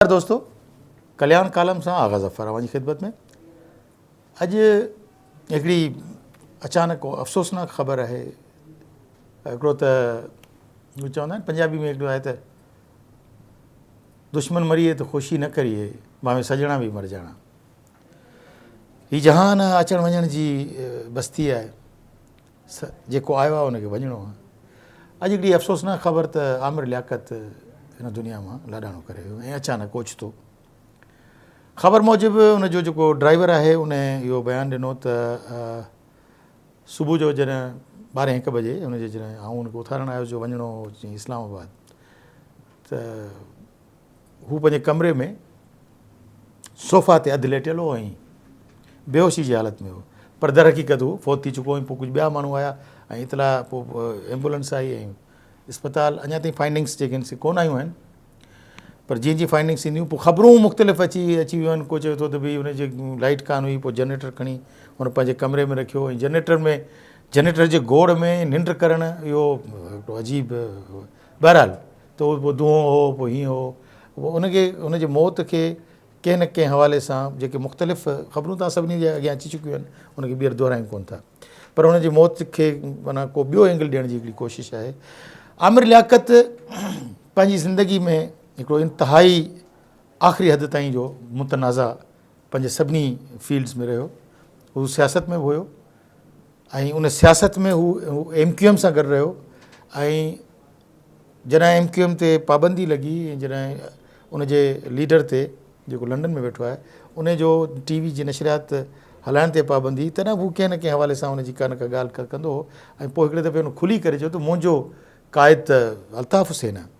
نمسڪار دوستو ڪلياڻ ڪالم سان آغا ظفر اوهان جي خدمت ۾ اڄ هڪڙي اچانڪ افسوسناڪ خبر آهي هڪڙو ته چوندا آهن پنجابي ۾ هڪڙو آهي ته دشمن مريئي ته خوشي نه ڪريئي ماوي سڄڻا به مر جاڻا هي جهان اچڻ وڃڻ جي بستي آهي جيڪو آيو آهي ان کي وڃڻو آهي. اڄ هڪڙي افسوسناڪ خبر ته عامر لياقت هن دنيا مان لاڏاڻو ڪري ويو ۽ اچانڪ اوچتو خبر موجب ان جو جيڪو ڊرائيور آهي ان اهو بيان ڏنو ته صبح جو جڏهن ٻارهين هڪ بجي ان جي جڏهن آئون ان کي اٿارڻ آيس جو وڃڻو هو اسلام آباد ته هو پنهنجي ڪمري ۾ صوفا تي اڌ ليٽيل هو ۽ بيهوشي جي حالت ۾ هو پر درحقيقت هو فوت ٿي چڪو ۽ پوء ڪجهه ٻيا ماڻهو آيا ۽ اطلاع پوء ايمبولنس آئي ۽ اسپتال اڃا تائين فائنڊنگس جيڪي آهن سي ڪونه آيون آهن پر جيئن جيئن فائنڊنگس ٿينديون پوء خبرون مختلف اچي اچي ويون آهن ڪو چوي ٿو ته ڀي هن جي لائيٽ ڪانه هئي پوء جنريٽر کڻي هن پنهنجي ڪمري ۾ رکيو ۽ جنريٽر ۾ جنريٽر جي گوڙ ۾ ننڊ ڪرڻ اهو هڪڙو عجيب بهرحال ته اهو پوء دونهون هو، پوء هيئن هو، پوء ان کي ان جي موت کي ڪنهن نه ڪنهن حوالي سان جيڪي مختلف خبرون توهان سڀني جي اڳيان اچي چڪيون آهن، ان کي ٻيهر دهرايون ڪونه ٿا. پر ان جي موت کي معنيٰ ڪو ٻيو اينگل ڏيڻ جي هڪڙي ڪوشش آهي. عامر لياقت پنهنجي زندگي ۾ هڪڙو انتهائي آخري حد تائين جو متنازع پنهنجي سڀني فيلڊز ۾ رهيو. هو سياست ۾ به هيو. ۽ ان سياست ۾ هو ايم ڪيو ايم سان گڏ رهيو ۽ جڏهن ايم ڪيو ايم تي پابندي لڳي ۽ جڏهن ان جي ليڊر تي جيڪو لنڊن ۾ ويٺو آهي ان جو ٽي وي جي نشريات هلائڻ تي پابندي هئي تڏهن به هو ڪنهن نه ڪنهن حوالي سان ان جي ڪا نه ڪا ڳالهه ڪندو هو ۽ پوء هڪڙي دفعي هن کلي ڪري چيو ته منهنجو قائد ته الطاف حسين آهي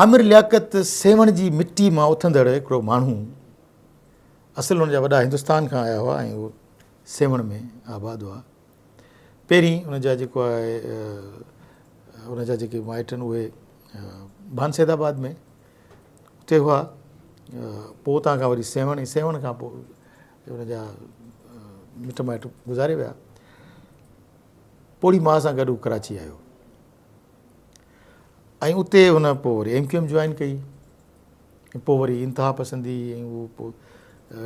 عامر لياقت سيوهڻ جي مٽي مان اٿندڙ هڪڙو ماڻهو هو. اصل هن جا وڏا هندستان کان آيا هئا ۽ هو سيوهڻ ۾ آباد هئا. پهرين هن جا جيڪو آهي هن جا جيڪي مائٽ آهن اهي ڀان سيد آباد ۾ اتي هئا. پوء اتان کان وري سيوهڻ ۽ سيوهڻ کان پوء هن جا مٽ مائٽ گذاري ويا. پوڙهي ماء سان گڏ هو ڪراچي آيو. ۽ اتي هن پوء وري ايم ڪيو ايم جوائن ڪئي ۽ پوء وري انتها پسندي ۽ هو پوء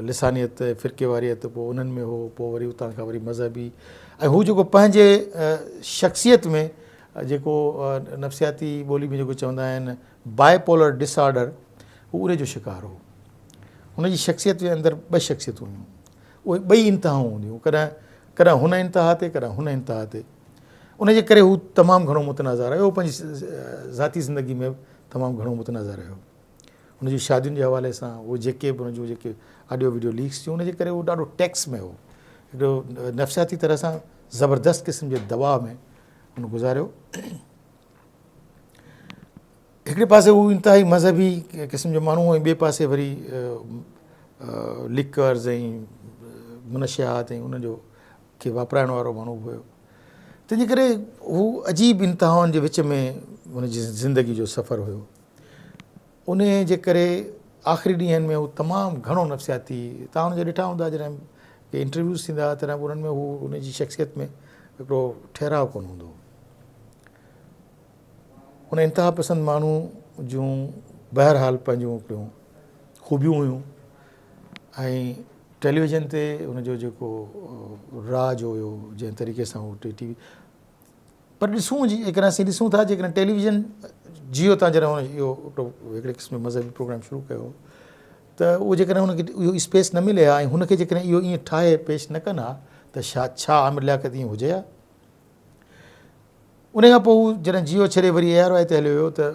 لسانيت فرقي واريت پوء انهن ۾ هو پوء وري اتان کان وري مذهبي ۽ هو جيڪو پنهنجي شخصيت ۾ جيڪو نفسياتي ٻولي ۾ جيڪو چوندا آهن بائي پولر ڊس آرڊر هو ان جو شڪار هو هن جي شخصيت جي اندر ٻه شخصيتون هيون اهي ٻئي انتهائون هونديون ڪڏهن ڪڏهن هن انتها تي ڪڏهن هن انتها تي ان جي ڪري هو تمام گهڻو متنازع رهيو پنهنجي ذاتي زندگي ۾ تمام گهڻو متنازع رهيو ان جي شادين جي حوالي سان هو جيڪي به ان جو جيڪي آڊيو ويڊيو ليڪس ٿيون ان جي ڪري هو ڏاڍو ٽيڪس ۾ هو هڪڙو نفسياتي طرح سان زبردست قسم جي دباء ۾ ان گذاريو هڪڙي پاسي هو انتهائي مذهبي قسم جو ماڻهو هو ۽ ٻئي پاسي وري لڪرز ۽ منشيات ۽ ان جو کي واپرائڻ وارو ماڻهو به هيو تنهن جي ڪري هو عجيب انتهائن جي وچ ۾ ان جي زندگي جو سفر هيو ان جي ڪري آخري ڏينهن ۾ هو تمام گهڻو نفسياتي تان ان جا ڏٺا هوندا جڏهن ڪي انٽرويوز ٿيندا هئا تڏهن انهن ۾ هو ان جي شخصيت ۾ هڪڙو ٺهراء ڪون هوندو ان انتها پسند ماڻهو جون بهرحال پنهنجون هڪڙيون خوبيون هيون ۽ ٽيليويزن تي ان جو جيڪو راج هيو جنهن طريقي سان هو ٽي وي پر ڏسون جي جيڪڏهن اسين ڏسون ٿا جيڪڏهن ٽيليويزن جيو تان جڏهن هن اهو هڪڙي قسم مذهبي پروگرام شروع ڪيو ته اهو جيڪڏهن هن کي اهو اسپيس نه ملي ها ۽ هن کي جيڪڏهن اهو ائين ٺاهي پيش نه ڪن ها ته شايد ڇا عامر لياقت ائين هجي ها ان کان پوء هو جڏهن جيو ڇڏي وري اي آر وائي تي هليو ويو ته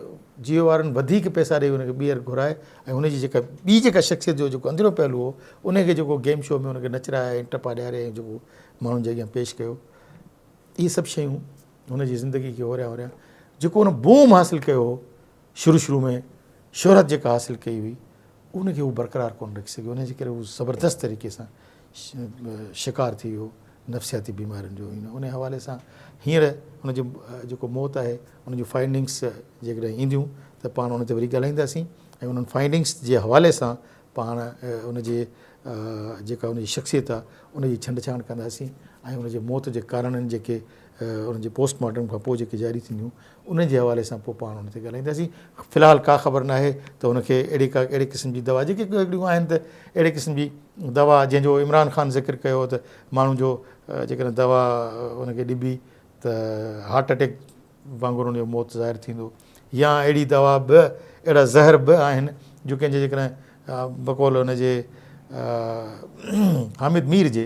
جيو وارن وڌيڪ پئسا ڏئي هن کي ٻيهر گهرائي ۽ هن جي جيڪا ٻي جيڪا شخصيت جو جيڪو اندريون پهلو هو ان کي جيڪو گيم شو ۾ هن کي نچرائي ۽ ٽپا ڏياري ۽ جيڪو ماڻهن جي اڳيان پيش ڪيو اهي سڀ شيون هن جي زندگي کي هوريان هوريان جيڪو هن بوم حاصل ڪيو هو شروع شروع ۾ شهرت جيڪا حاصل ڪئي هئي ان کي هو برقرار ڪونه رکي سگهيو ان جي ڪري هو زبردست طريقي سان شڪار ٿي ويو نفسياتي بيمارين جو ان حوالي سان هينئر ان جو جيڪو موت آهي ان جون فائنڊنگس جيڪڏهن اينديون ته پاڻ ان تي وري ڳالهائينداسين ۽ انهن فائنڊنگس جي حوالي سان پاڻ ان جي جيڪا ان جي شخصيت آهي ان جي ڇنڊ ڇاڻ ڪنداسين ۽ ان جي موت جي ڪارڻن جيڪي ان جي پوسٽ مارٽم کان پوء جيڪي جاري ٿينديون ان جي حوالي سان پوء پاڻ ان تي ڳالهائينداسين في الحال ڪا خبر ناهي ته ان کي اهڙي ڪا اهڙي قسم جي دوا جيڪي هڪڙيون آهن ته اهڙي قسم جي دوا جنهن جو عمران خان ذڪر ڪيو هو ته ماڻهو جو جيڪڏهن دوا ان کي ڏبي ته هارٽ اٽيڪ وانگر ان جو موت ظاهر ٿيندو يا اهڙي دوا به اهڙا زهر به آهن جو ڪنهن جي جيڪڏهن بقول ان جي حامد مير جي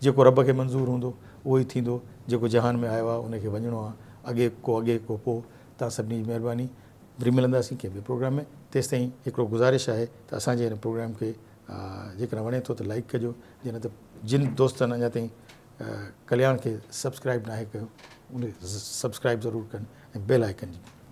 جيڪو رب کي منظور هوندو، اهو ئي ٿيندو، جيڪو جهان ۾ آيو آهي، ان کي وڃڻو آهي، اڳي ڪو اڳي ڪو پوء، توهان سڀني جي مهرباني، وري ملنداسين ڪنهن ٻئي پروگرام ۾، تيستائين هڪڙو گذارش آهي ته اسان جي هن پروگرام کي جيڪڏهن وڻي ٿو ته لائيڪ ڪجو، جي نه ته جن دوستن اڃا تائين ڪلياڻ کي سبسڪرائيب ناهي ڪيو، اهي سبسڪرائيب ضرور ڪن ۽ بيل آئيڪن جي